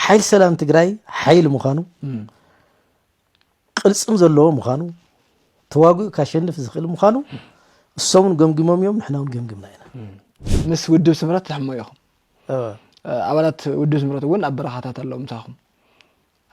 ሓይል ሰላም ትግራይ ሓይል ምዃኑ ቅልፅም ዘለዎ ምዃኑ ተዋግኡ ካሸንፍ ዝኽእል ምዃኑ እሶምን ገምግሞም እዮም ንሕና እውን ገምግምና ኢና ምስ ውድብ ስምረት ትሕሞ ኢኹም ኣባላት ውድብ ስምረት እውን ኣብ በረኻታት ኣለዉ ምሳኹም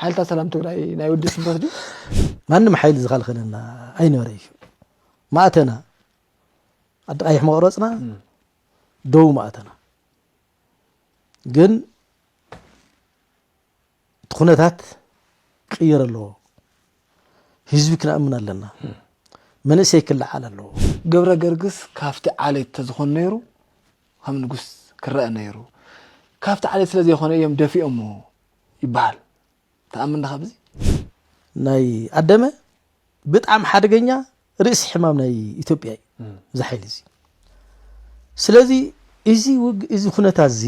ሓይልታት ሰላም ትግራይ ናይ ውድብ ስምረት ድዩ ማንም ሓይሊ ዝኸልኸለና ኣይነበረ እዩ ማእተና ኣዲ ቀይሕ መቕረፅና ደው ማእተና ግን እቲ ኩነታት ክቅየር ኣለዎ ህዝቢ ክንኣምን ኣለና መንእሰይ ክለዓል ኣለዎ ገብረ ገርግስ ካብቲ ዓሌት ተዝኾን ነይሩ ከም ንጉስ ክረአ ነይሩ ካብቲ ዓሌት ስለዘይኮነ እዮም ደፊኦሞ ይበሃል ትኣምን ዲኻ ብዚ? ናይ ኣደመ ብጣዕሚ ሓደገኛ ርእሲ ሕማም ናይ ኢትዮጵያ እዩ እዚ ሓይሊ እዚ ስለዚ እዚ እዚ ኩነታት እዚ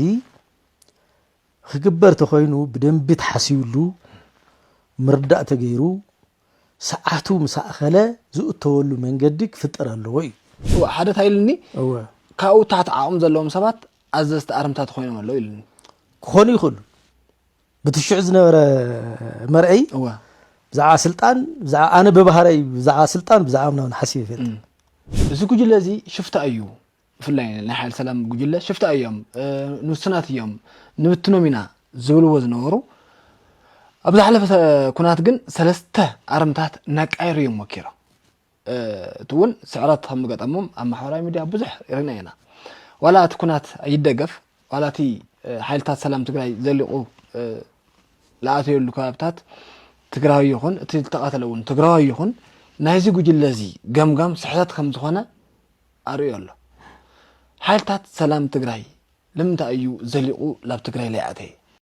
ክግበር ተኮይኑ ብደንቢ ተሓሲብሉ ምርዳእ ተገይሩ ሰዓቱ ምስ ኣኸለ ዝእተወሉ መንገዲ ክፍጠር ኣለዎ እዩ እወ ሓደ እንታይ ኢሉኒ ካብኡ ታሕቲ ዓቕሚ ዘለዎም ሰባት ኣዘዝቲ ኣርምታት ኮይኖም ኣለዉ ኢሉኒ ክኾኑ ይኽእሉ ብቲ ሽዑ ዝነበረ መርኣይ ብዛዕባ ስልጣን ብዛዕባ ኣነ ብባህረይ ብዛዕባ ስልጣን ብዛዕባ ምናምን ሓሲብ ይፈልጥ እዚ ጉጅለ እዚ ሽፍታ እዩ ብፍላይ ናይ ሓይል ሰላም ጉጅለ ሽፍታ እዮም ንውስናት እዮም ንብትኖም ኢና ዝብልዎ ዝነበሩ ኣብ ዝሓለፈ ኩናት ግን ሰለስተ ኣርምታት እናቃየሩ እዮም ወኪሮም እቲ እውን ስዕረት ከም ዝገጠሞም ኣብ ማሕበራዊ ሚድያ ብዙሕ ሪእና ኢና። ዋላ እቲ ኩናት ይደገፍ ዋላ እቲ ሓይልታት ሰላም ትግራይ ዘሊቑ ዝኣተየሉ ከባብታት ትግራዊ ይኹን እቲ ዝተቐተለ እውን ትግራዊ ይኹን ናይዚ ጉጅለ እዚ ገምጋም ስሕተት ከም ዝኾነ ኣርእዮ ኣሎ። ሓይልታት ሰላም ትግራይ ንምንታይ እዩ ዘሊቑ ናብ ትግራይ ለይኣተየ?